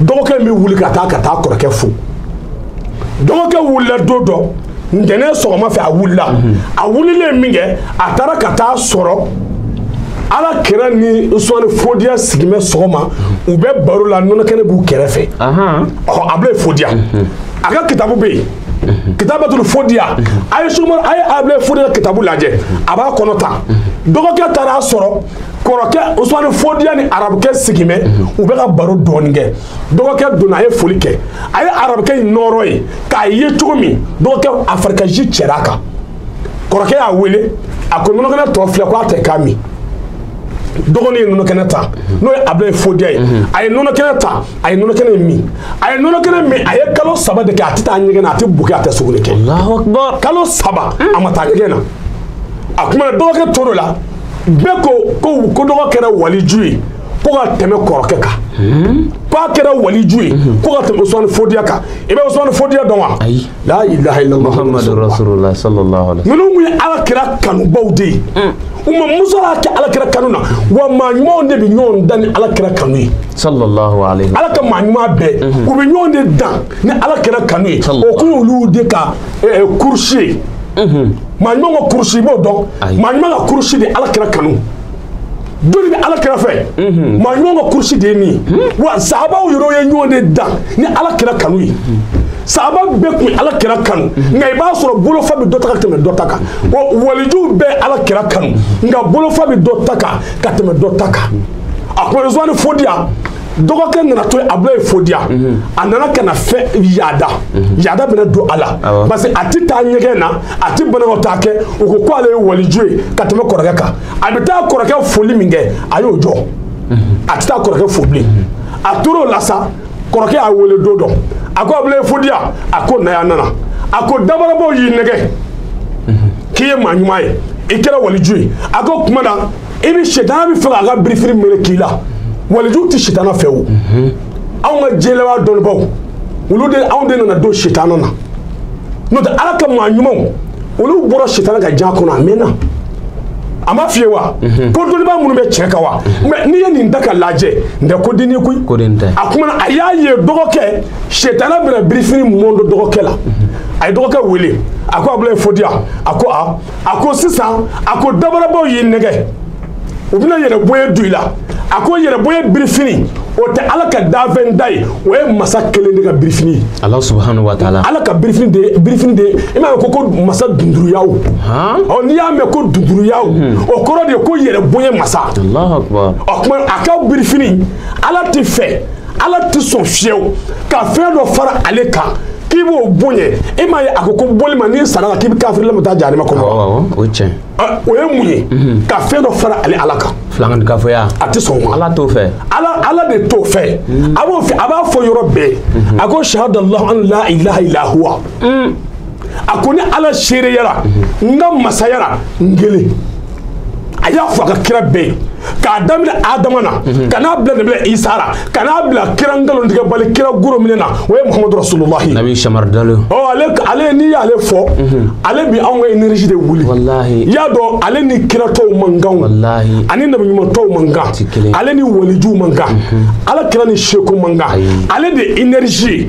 dɔgɔkɛ bɛ wuli ka taa ka taa kɔrɔkɛ fo dɔgɔkɛ wulila don dɔ ntɛnɛn sɔgɔma fɛ a wulila mhm. a wulilen min kɛ a taara ka taa sɔrɔ ala kira ni usumani fodiya sigimɛ sɔgɔma u bɛ baro la nɔnɔkɛnɛ b'u kɛrɛfɛ ɔ abulayi fodiya mhm. a ka kitabu bɛ yen mhm. kitabatul fodiya a ye sumar a ye abulayi fodiya kitabu lajɛ a b'a kɔnɔ ta dɔgɔkɛ taara a sɔrɔ kɔrɔkɛ usumani fodiya ni arabukɛ sigilen bɛ mhm. u bɛ ka baro dɔɔni kɛ dɔgɔkɛ donna a ye foli kɛ a ye arabukɛ in nɔɔrɔ ye k'a ye cogo min dɔgɔkɛ a farikɛji cɛra a kan kɔrɔkɛ y'a wele a ko nɔnɔkɛnɛ tɔ filɛ ko a ta k'a min dɔgɔnin ye nɔnɔkɛnɛ ta mhm. n'o ye abulayi fodiya ye mhm. a ye nɔnɔkɛnɛ ta a ye nɔnɔkɛnɛ min a ye nɔnɔkɛnɛ min a ye kalo saba de kɛ a tɛ taa ɲɛgɛn na a tɛ bo kɛ a tɛ sugunɛ kɛ kalo saba a ma taa ɲɛgɛn na a kuma na dɔgɔkɛ tor'o la bɛɛ ko ko ko dɔgɔ kɛra waliju ye ko ka tɛmɛ kɔrɔkɛ kan hmm? k'a kɛra waliju ye hmm. ko ka tɛmɛ usmani fodiya kan i bɛ usmani fodiya dɔn wa la ilaha illallah ninnu tun ye ala kira kanubaw de ye hmm. u ma musala kɛ ala kira kanu na wa maa ɲumanw de bɛ ɲɔgɔn dan ni ala kira kanu ye ala ka maa ɲuman bɛɛ u bɛ ɲɔgɔn de dan ni ala kira kanu ye o kun y'olu de ka kurusi ye maa ɲuman ka kurusi i b'o dɔn maa ɲuman ka kurusi de ala kira kanu jɔni bɛ ala kira fɛ maa ɲuman ka kurusi de ye nin wa sahabaw yɛrɛ ye ɲɔgɔn de dan ni ala kira kanu ye sahaba bɛɛ tun ala kira kanu nka i b'a sɔrɔ bolofa bɛ dɔ ta ka tɛmɛ dɔ ta kan walijuw bɛɛ ala kira kanu nka bolofa bɛ dɔ ta kan ka tɛmɛ dɔ ta kan a ko usumani fodiya dɔgɔkɛ nana to abulayi fodiya mhm. a nana ka na fɛn yaada mhm. yaada bɛna don a la parce que a tɛ taa ɲɛgɛn na a tɛ banakɔtaa kɛ u ko ko ale ye waliju ye ka tɛmɛ kɔrɔkɛ kan a bɛ taa kɔrɔkɛ foli min kɛ a y'o jɔ mhm. a tɛ taa kɔrɔkɛ fo bilen a tor'o la sa kɔrɔkɛ y'a wele don dɔ a ko abulayi fodiya a ko na yan a nana a ko dabarabaw y'i nɛgɛ k'i ye maa ɲuman ye i kɛra waliju ye a ko kuma na i bɛ sitana b'a fɛ k'a ka birifini melek'i la waliju tɛ sitana fɛ o anw ka jɛlɛba dɔnnibaw olu de anw de nana don sitana na n'o tɛ ala ka maa ɲumanw olu bɔra sitana ka jan kɔnɔ a mɛnna a ma fɔ i ye wa ko dɔnniba minnu bɛ cɛ kan wa mɛ n'i ye nin da ka lajɛ n tɛ ko denni koyi a kuma na a y'a ye dɔgɔkɛ sitana bɛna birifini mɔndɔ dɔgɔkɛ la a ye dɔgɔkɛ wele a ko abulayi fodiya a ko a a ko sisan a ko dabarabaw y'i nɛgɛ u bɛna yɛrɛbonya don i la a ko yɛrɛbonya birifini o tɛ ala ka danfɛn ta ye o ye masa kelen de ka birifini ye ala subahana wa taala ala ka birifini de ye i m'a ye ko ko masa dunduruyaw ɔ n'i y'a mɛn ko dunduruyaw hmm. o kɔrɔ de ye ko yɛrɛbonya masa o tuma a ka birifini ala t'a fɛ ala tɛ sɔn fiyewu ka fɛn dɔ fara ale kan k'i b'o bonya e m'a ye a ko ko boli ma n'i sara la k'i bɛ kafiri lamu taa jahanama kɔnɔ o ye tiɲɛ o ye mun ye mhm. ka fɛn dɔ fara ale ala kan filankafoya a tɛ sɔn o ma ala t'o fɛ ala ala de t'o fɛ mhm. a b'o fɛ a b'a fɔ yɔrɔ bɛɛ mhm. a ko sahadallahu an la ilaha illa huwa mm. a ko ni ala seereyara n ka masayara n kelen a y'a fɔ a ka kira bɛɛ ye k'a daminɛ adama na mhm. ka n'a bila nabi isa la ka n'a bila kira nkalontigɛbali kira goro minɛ na o ye muhamadu rasululahi nabi samari dalo ɔ ale ale n'i y'ale fɔ mhm. ale bi anw ka energie de wuli walahi i y'a dɔn ale ni kira tɔw man kan walahi ani nabi ɲuman tɔw man kan ale ni walijuw man kan mhm. ala kira ni seku man kan ale de energie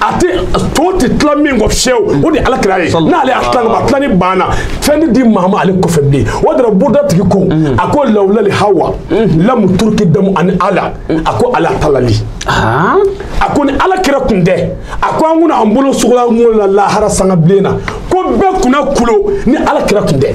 a tɛ to tɛ tila min kɔ fiyewu o de ye ala kira ye n'ale y'a tila ka tila ni banna fɛn tɛ di maa ma ale kɔfɛ bilen o de la burda tigi ko mm. a ko lawulali hawa mm. lamu turuki damu ani ala mm. a ko ala talali ah. a ko ni ala kira kun tɛ a ko an kun na an bolo sugulan ŋolo la lahara sanga bilen na ko bɛɛ kun na kulo ni ala kira kun tɛ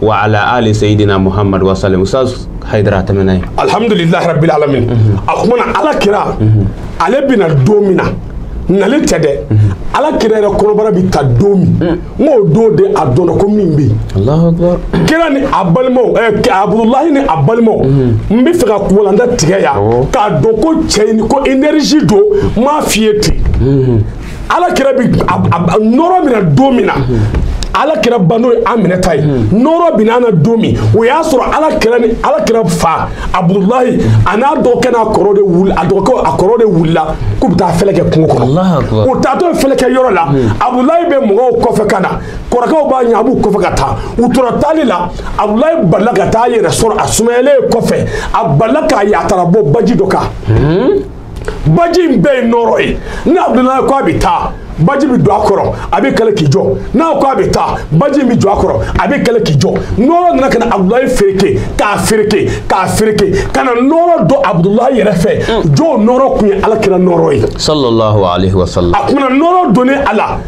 wa ala ali sayyidina muhammad wa sallam ustaz haidara ta mana alhamdulillah rabbil alamin mhm. a kuma na ala kira mhm. ale bina don min na n'ale tɛ dɛ mhm. ala kira yɛrɛ kɔnɔbara bi ta don min mm. n k'o don de a dɔnna ko min bɛ yen kira ni a balimaw ɛɛ eh, abudulayi ni a balimaw n bɛ fɛ ka ko walanda tigɛ yan k'a dɔn ko cɛ in ko energie don n m'a f'i ye ten. ala kira bi nɔɔrɔ mina don min na ala kira ba n'o ye aminata ye nɔɔrɔ bina na don min o y'a sɔrɔ ala kira ni ala kira fa abudulayi a n'a dɔgɔkɛ n'a kɔrɔ de wuli a dɔgɔkɛ a kɔrɔ de wulila k'u bɛ taa fɛlɛ kɛ kungo kɔnɔ u taatɔ ye fɛlɛ kɛ yɔrɔ la abudulayi bɛ mɔgɔw kɔfɛ ka na kɔrɔkɛw b'a ɲɛ a b'u kɔfɛ ka taa u tora taali la abudulayi balila ka taa a yɛrɛ sɔrɔ a sumayalen kɔfɛ a balila k'a ye a taara bɔ baji dɔ kan. baji in bɛɛ ye nɔɔrɔ ye ni abudulayi ko a bɛ taa baji bɛ don a kɔrɔ a bɛ kala k'i jɔ n'a ko a bɛ taa baji in bɛ jɔ a kɔrɔ a bɛ kala k'i jɔ nɔɔrɔ nana ka na abudulayi fereke k'a fereke k'a fereke ka na nɔɔrɔ don abudulayi yɛrɛ fɛ jaa o nɔɔrɔ kun ye ala kira nɔɔrɔ ye. sallallahu alayhi wa sallam. a kun na nɔɔrɔ donnen a la.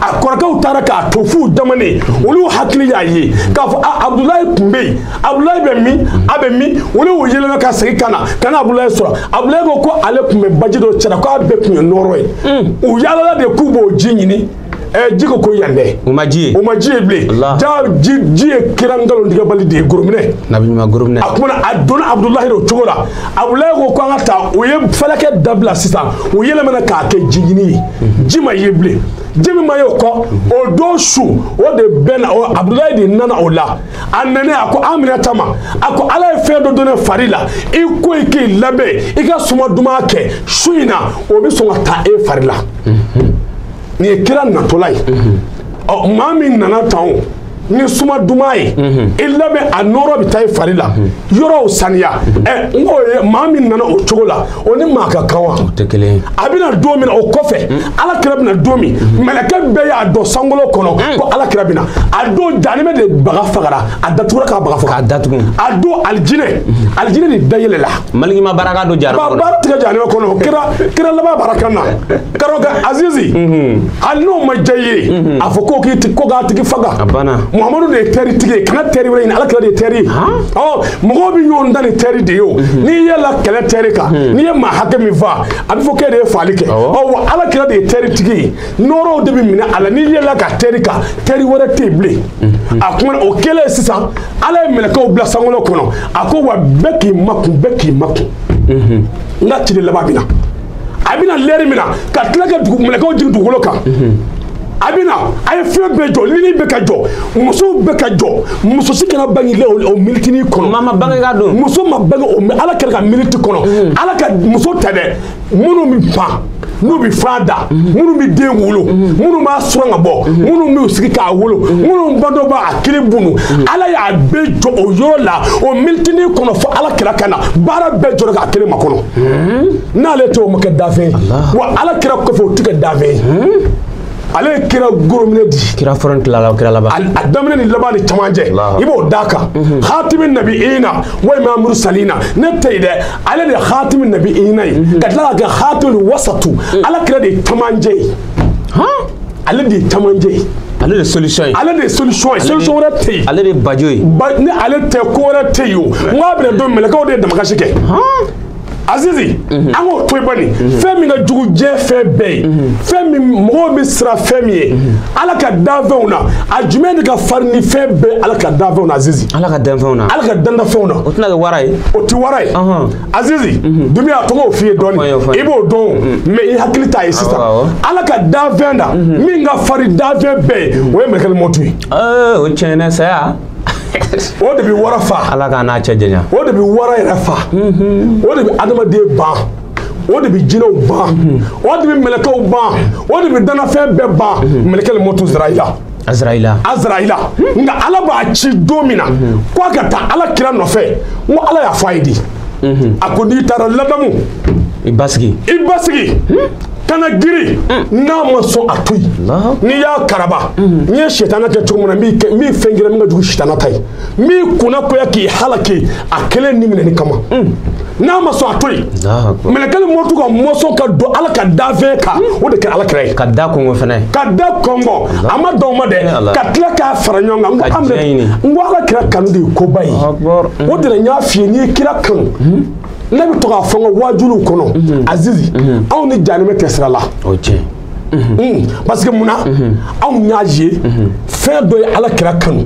a kɔrɔkɛw taara k'a to f'u damanen olu hakili y'a ye k'a fɔ a abudulayi kun bɛ yen abudulayi bɛ min a bɛ min olu y'u yɛlɛma ka segin ka na ka na abudulayi sɔrɔ abudulayi ko ko ale kun bɛ baji dɔ cɛla k'a bɛɛ kun ye nɔɔrɔ ye hmm. u yaalala de k'u b'o ji ɲini Eh, ji ko ko yan dɛ o ma ji ye o ma ji ye bilen jaa ji ye kira nkalontigɛbali de ye gorominɛ nabi ɲuman gorominɛ a kumana a donna abudulahi r'o cogo la abudulayi ko ko an ka taa u ye fɛlɛ kɛ dabila sisan o yɛlɛmana k'a kɛ jiɲini ye ji ma ye bilen ji min ma ye o kɔ o don su o de bɛnna o abudulayi de nana o la a nanen a ko aminata ma a ko ala ye fɛn dɔ don ne fari la i ko i k'i labɛn i ka suma duman kɛ su in na o bɛ sɔn ka taa e fari la nin ye kira natɔla ye ɔ maa min nana tan o ni suma duman ye i labɛn a nɔrɔ bɛ taa i fari la yɔrɔw saniya ɛ n k'o ye maa min nana o cogo la o ni maa ka kan wa a bɛna don min na o kɔfɛ ala kira bɛna don min mɛlɛkɛ bɛɛ y'a dɔn sankolo kɔnɔ ko ala kira bɛna a don janimɛ de baga fagara a datugura k'a baga faga a datugu a don alijinɛ alijinɛ de da yɛlɛla maliki ma baara kɛ don jarabɔ baara tɛ kɛ janimɛ kɔnɔ kira laban baraka na karamɔgɔ azizi hali n'o ma diya i ye a fɔ ko k'i ti- ko k'a tigi faga A banna. muhamadu de ye tɛri tigi ye kana tɛri wɛrɛ ɲini ala kira de ye tɛri ye ɔ mɔgɔw bɛ ɲɔgɔn dan ni tɛri de ye o n'i ye la kɛlɛ tɛri kan n'i ye maa hakɛ min fa a bɛ fɔ k'e de ye faali kɛ Awɔ. ɔ wa ala kira de ye tɛri tigi ye nɔrɔw de bɛ mɛnɛ a la n'i ye la ka tɛri kan tɛri wɛrɛ tɛ yen bilen a kuma na o kɛlen sisan ala ye mɛlɛkɛw bila sankolo kɔnɔ a ko wa bɛɛ k'i makun bɛɛ k'i makun n ka ciden laban bɛ na a bɛna lɛri min na ka tila ka dugu mɛlɛkɛw jigin dugukolo kan a bɛna a ye fɛn bɛɛ jɔ lili bɛɛ ka jɔ musow bɛɛ ka jɔ muso si kana bange o militini kɔnɔ maa ma bange ka don muso ma bange o ala kira ka militi kɔnɔ mm. ala ka muso tɛ dɛ minnu bɛ pan n'u bɛ fan da mm-hmm. minnu bɛ den wolo mm-hmm. minnu b'a suran ka bɔ mm-hmm. minnu b'u sigi k'a wolo minnu ba dɔ b'a kili bunu ala y'a bɛɛ jɔ o yɔrɔ la o militini kɔnɔ fo ala kira ka na baara bɛɛ jɔra ka kira makɔnɔ n'ale tɔgɔ ma kɛ da fɛ wa ala kira ko fɔ tɛ kɛ da fɛ ale ye kira goromine di kira fɔlɔ tilala kira laban a daminɛ ni laban ni camancɛ i b'o d'a kan mhm. hatimi nabiyina wa imamu mursalina ne tɛ yen dɛ ale de ye hatimi nabiyina ye mhm. ka tila ka kɛ hatimi wasatu mhm. ala kira de ye camancɛ ye ale de ye camancɛ ye ale de solution ye ale de ye solution ye solution wɛrɛ tɛ yen ale de ye bajo ye ni ale tɛ ko wɛrɛ tɛ yen o n k'a bɛna don mɛlɛkɛw de ye damakasi kɛ azizi mhm. an k'o to yen bani mhm. fɛn min ka jugu diɲɛ fɛn bɛɛ ye mhm. fɛn min mɔgɔw bɛ siran fɛn min ye ala ka danfɛnw na a jumɛn de ka farin ni fɛn bɛɛ ala ka danfɛnw na azizi ala ka danfɛnw na ala ka danfɛnw na o tɛna kɛ wara ye o tɛ wara ye Azizi mhm. n tun y'a tɔgɔ f'i ye dɔɔnin i b'o dɔn mhm. mɛ i hakili t'a ye sisan ala ka danfɛn da mhm. min ka farin danfɛn bɛɛ ye o ye mɛlɛkɛli mɔtu ye o tiɲɛ saya o de bɛ wara fa ala k'an n'a cɛ janya o de bɛ wara yɛrɛ fa o de bɛ adamaden ban o de bɛ jinɛw ban o de bɛ mɛlɛkɛw ban o de bɛ danafɛn bɛɛ ban mɛlɛkɛli mɔtu azraila azraila azraila nka ala b'a ci don min na ko a ka taa ala kira nɔfɛ n ko ala y'a fɔ a ye di a ko n'i taara ladamu i basigi i basigi kana girin n'a ma sɔn a to yen n'i y'a karaba n ye sitana kɛ cogo min na n bɛ fɛn k'i la min ka jugu sitana ta ye min kunna koya k'i halaki a kelen ni minɛni kama n'a ma sɔn a to yen mɛlɛkɛli mɔtu ka mɔsɔn ka don ala ka danfɛn kan o de kɛ ala kira ye ka da kɔnkɔn fɛnɛ ka da kɔnkɔn a ma don ma dɛ ka tila k'a fara ɲɔgɔn kan n ko an n ko ala kira kanu de ye koba ye o de la n y'a f'i ye n'i ye kira kanu ne bɛ to k'a fɔ n ka waajuliw kɔnɔ azizi anw ni janimɛ tɛ sira la parce que mun na anw y'a ye fɛn dɔ ye ala kira kanu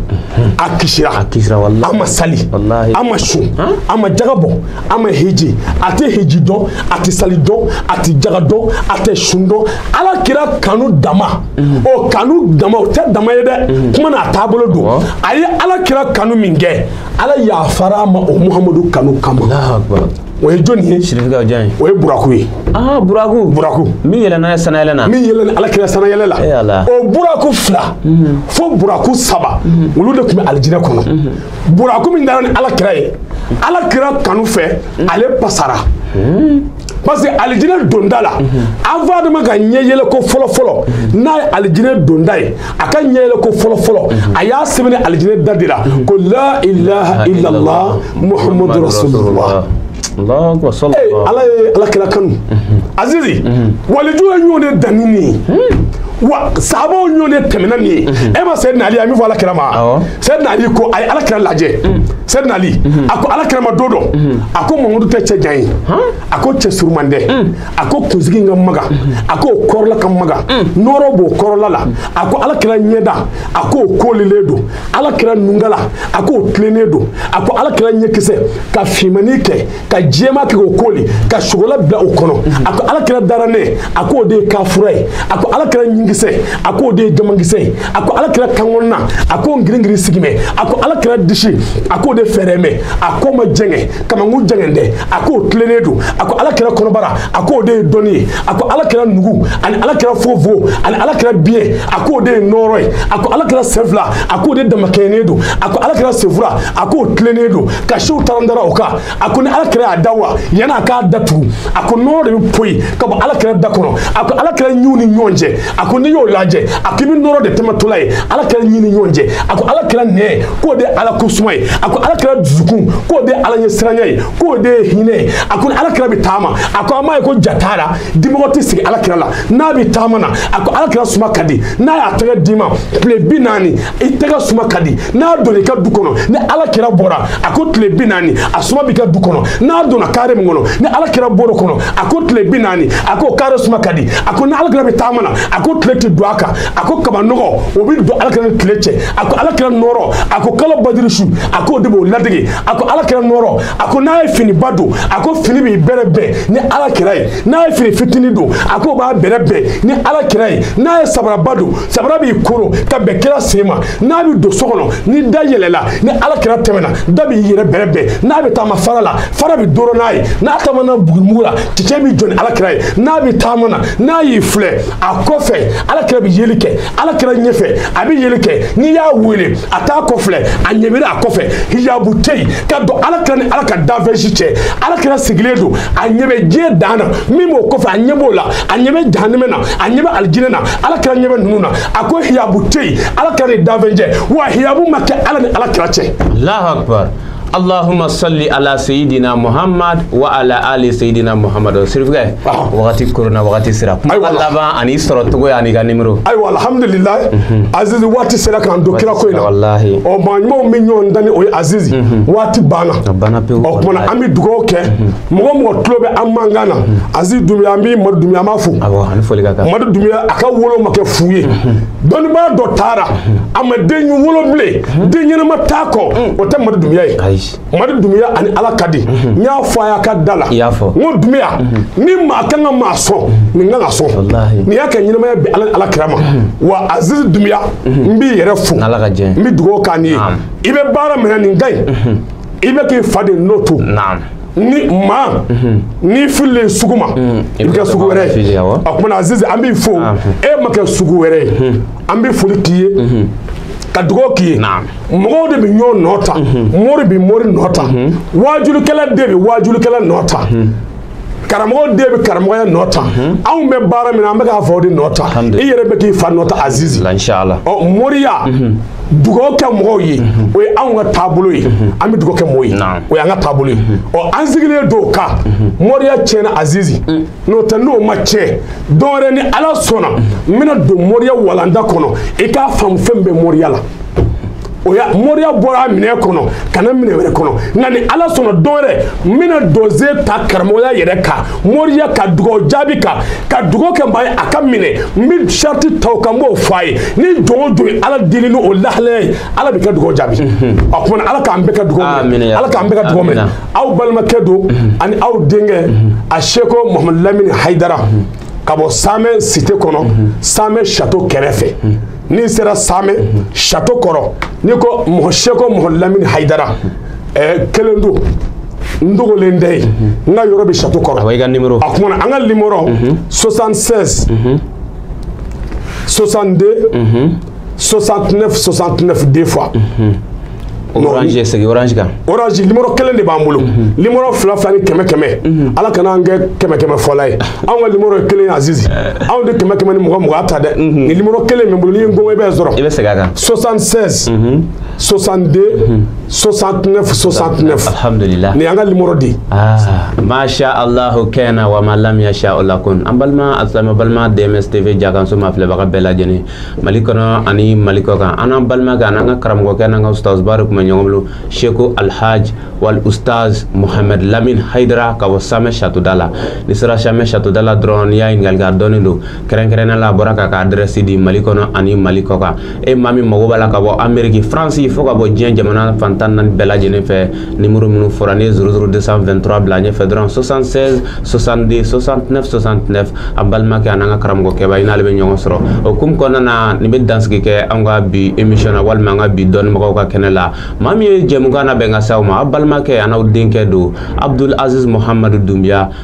a kisira a ma sali a ma sun a ma jaga bɔ a ma heji a tɛ heji dɔn a tɛ sali dɔn a tɛ jaga dɔn a tɛ sun dɔn ala kira kanu dama o kanu dama o tɛ dama ye dɛ kuma na a taabolo don a ye ala kira kanu minkɛ ala yafara a ma o muhamadu kanu kama o ye jɔni ye sirifika jɔn ye o ye buraku ye aa buraku buraku min yɛlɛnna ye sanayɛlɛ na min yɛlɛnna ala kira sanayɛlɛ la e ala o buraku fila mhm. fo buraku saba mhm. olu de tun bɛ alijinɛ kɔnɔ mhm. buraku min taara ni ala kira ye ala kira kanu fɛ ale pasara parce que alijinɛ donda la an fa adama ka ɲɛ yɛlɛ ko fɔlɔ fɔlɔ n'a ye alijinɛ donda ye a ka ɲɛyɛlɛ ko fɔlɔfɔlɔ a y'a sɛbɛnnen ye alijinɛ da de la ko la ilaha illallah muhammadu rasulullah ala ye ala kira kanu azizi walijuw ye ɲɔgɔn de dan nin ye wa sabaw ɲɔgɔn de tɛmɛna nin ye e ma sɛdina ali a min fɔ ala kira ma sɛdina ali ko a ye ala kira lajɛ sɛdina ali a ko ala kira ma don dɔ a ko mamadu tɛ cɛ jan ye a ko cɛ suruman tɛ a ko kunsigi ka magan a k'o kɔrɔla ka magan nɔɔrɔ b'o kɔrɔla la a ko ala kira ɲɛda a k'o kolilen don ala kira nungala a k'o tilennen don a ko ala kira ɲɛkisɛ ka finmani kɛ ka jɛman kɛ k'o koli ka sogola bila o kɔnɔ a ko ala kira dara ne a k'o de ye kafura ye a ko ala kira ɲinkisɛ a k'o de ye jamankisɛ ye a ko ala kira kankɔnɔna a k'o ngiringirin sigimɛ a ko ala kira disi a k'o de fɛɛrɛmɛ a k'o ma jɛngɛ kamankun jɛngɛn tɛ a k'o tilennen don a ko ala kira kɔnɔbara a k'o de ye dɔnni ye a ko ala kira nugu ani ala kira fogofogo ani ala kira biɲɛ a k'o de ye nɔɔrɔ ye a ko ala kira sen fila a k'o de damakɛɲɛnen don a ko ala kira senfura a k'o tilennen don ka siw tarandara o kan a ko ni ala kira y'a da wa yan'a k'a datugu a ko nɔɔrɔ de bɛ poyi ka bɔ ala kira da kɔnɔ a ko ala kira ɲinw ni ɲɔgɔn cɛ a ko n'i y'o lajɛ a k'i bɛ nɔɔrɔ de tɛmɛtɔla ye ala kira ɲin ni ɲɔgɔn cɛ a ko ala kira nɛn ye k'o de ye ala ko suma ye a ko ala kira dusukun k'o de ye ala ɲɛsiranya ye k'o de ye hinɛ ye a ko ni ala kira bɛ taama a ko an b'a ye ko ja t'a la dimɔgɔ tɛ sigi ala kira la n'a bɛ taama na a ko ala kira suma ka di n'a y'a tɛgɛ d'i ma tile bi naani i tɛgɛ suma ka di n'a donna i ka du kɔnɔ ni ala kira bɔra a ko tile bi naani a suma b'i ka du kɔnɔ n'a donna kare min kɔnɔ ni ala kira bɔr'o kɔnɔ a ko tile bi naani a ko kare suma ka di a ko ni ala kira bɛ taama na a ko tile tɛ don a kan a ko kabanɔgɔ o bɛ don ala kira ni tile cɛ a ko ala kira nɔrɔ a ko kalo badiri su a k'o de b'o ladege a ko ala kira nɔrɔ a ko n'a ye finiba don a ko fini b'i bɛrɛ bɛn ni ala kira ye n'a ye fini fitinin don a k'o b'a bɛrɛ bɛn ni ala kira ye n'a ye sabaraba don sabara b'i koro ka bɛn kira sen ma n'a bɛ don so kɔnɔ ni da yɛlɛla ni ala kira tɛmɛna da b'i yɛrɛ bɛrɛ bɛn n'a bɛ taama fara la fara b'i dɔrɔn a ye n'a taamana bugumugu ra cɛncɛn b'i jɔ ni ala kira ye n'a bɛ taama na n'a y'i filɛ a kɔfɛ ala kira bɛ yeli kɛ ala kira ɲɛfɛ a bɛ yeli kɛ n'i y'a wele a t'a kɔfilɛ a ɲɛ b'i ra a kɔfɛ hijabu tɛ yen ka don ala kira ni ala ka danfɛn si cɛ ala kira sigilen don a ɲɛ bɛ diɲɛ dan na min b'o kɔfɛ a ɲɛ b'o la a ɲɛ bɛ jahanimɛ na a ɲɛ bɛ alijinɛ na ala kira ɲɛ bɛ ninnu na a ko hijabu tɛ yen ala kira ni danfɛn cɛ wa hijabu ma kɛ ala ni ala kira cɛ. alahu akbar allahumma salli ala sayidina muhammad wa ala ali sayidina muhammad sirifukɛ wagati kɔrɔnna wagati sera kuma laban an'i sɔrɔcogoya an'i ka nimero. ayiwa alhamdulilayi mhm. azizi waati sera k'an don kira ko in na ɔ maa ɲumanw bɛ ɲɔgɔn dani o ye azizi mhm. waati banna ɔ tuma na an bɛ dugawu kɛ. Mhm. mɔgɔ mɔgɔ tulo bɛ an mankan na azizi dumiya an b'i madu dumiya an b'a fo madu dumiya a ka wolo ma kɛ fu ye dɔnnibaa dɔ taara a ma den wolo bilen den ɲɛnama t'a kɔ o tɛ madu dumiya ye madu dumiya ani ala ka di n y'a fɔ a y'a ka da la n ko dumiya ni maa kan ka maa sɔn nin kan ka sɔn nin y'a kɛ ɲɛnamaya bɛ ala n'ala kira ma wa azizi dumiya n b'i yɛrɛ fo n bɛ dugawu k'a ni ye i bɛ baara min na nin ka ɲi i bɛ k'i fa de nɔ ta ni maa n'i fililen sugu ma i bɛ kɛ sugu wɛrɛ ye a kumana Azizi an b'i fo e ma kɛ sugu wɛrɛ ye an bɛ foli k'i ye ka dugawu k'i ye mɔgɔw de bɛ ɲɔgɔn nɔ ta mori bɛ mori nɔ ta waajulikɛla de bɛ waajulikɛla nɔ ta. karamɔgɔ de bɛ karamɔgɔya nɔ ta mhm. anw bɛ baara min na an bɛ k'an faw de nɔ ta i yɛrɛ bɛ k'i fa nɔ ta azizi ɔ moriya mhm. dugawu kɛ mɔgɔw ye mhm. o ye anw ka taabolo ye an bɛ dugawu kɛ mɔgɔw ye o y'an ka taabolo ye ɔ an sigilen don ka moriya tiɲɛna azizi mm. n'o tɛ n'o ma tiɲɛ don wɛrɛ ni ala sɔnna n bɛna don moriya walanda kɔnɔ i k'a faamu fɛn min bɛ moriya la o ya moriya bɔra minɛn kɔnɔ ka na minɛn wɛrɛ kɔnɔ nka ni ala sɔnna don wɛrɛ n bɛna dosiye ta karamɔgɔya yɛrɛ kan moriya ka dugawu jaabi kan ka dugawu kɛ maa ye a ka minɛ n bɛ sarati ta o kan n b'o fɔ a ye ni jɔn o jɔn ye ala deli ni o lahalaya ye ala b'a ka dugawu jaabi a kumana ala k'an bɛɛ ka dugawu minɛ ala k'an bɛɛ ka dugawu minɛ aw balimakɛ don ani aw denkɛ a seko mahamadu lamini hayidara ka bɔ samɛ site kɔnɔ samɛ sato kɛrɛfɛ n'i sera samɛ sato kɔrɔ n'i ko mɔgɔ seko mohamed lamini hayidara eh, kelen don n dogolen tɛ yen n ka yɔrɔ bɛ sato kɔrɔ a kumana an ka nimoro 76 62 69 69 deux fois orange segin orange kan orange nimoro kelen de b'an bolo mhm. nimoro fila fila ni kɛmɛ kɛmɛ mhm. ala kana an kɛ kɛmɛ kɛmɛ fɔla ye anw ka nimoro ye kelen azizi eh. anw tɛ kɛmɛ kɛmɛ ni mugan mugan a ta dɛ mhm. ni nimoro kelen min bolo n'i ye ngɔngɔn i bɛ n sɔrɔ i bɛ segin a kan 76 62 69 69 alhamdulillah nin an ka nimoro di ah, masha allahu kana wa ma lam yasha lam yakun an balima asilama balima dms tv jakanso mafilɛbaga bɛɛ lajɛlen mali kɔnɔ ani mali kɔ kan an n'an balimakɛ an'an ka karamɔgɔkɛ n'an ka ustazba de tun bɛ ɲɔgɔn bolo seko alhaj wal ustaz mohamed lamin haidara ka bɔ samɛ satoda la n'i sera samɛ satoda la dɔrɔn n'i y'a ɲininkali kɛ a dɔnnen don kɛrɛnkɛrɛnnenya la a bɔra k'a ka adrɛsi di mali kɔnɔ ani mali kɔ kan e maa min mago b'a la ka bɔ ameriki faransi fo ka bɔ diɲɛ jamana fan tan ni naani bɛɛ lajɛlen fɛ Numéro minnu fɔra nin ye 00223 bila ɲɛfɛ dɔrɔn 76 62 69 69 a balimakɛ an'an ka karamɔgɔkɛba i n'ale bɛ ɲɔgɔn sɔrɔ o hukumu kɔnɔna na nin bɛ dansigi kɛ an ka bi émission na walima an ka bi dɔnnibagaw ka kɛnɛ la maa min ye jɛmukan nabɛn ka s'aw ma a balimakɛ an'aw denkɛ don Abdul Aziz Mohamadu Dunbiya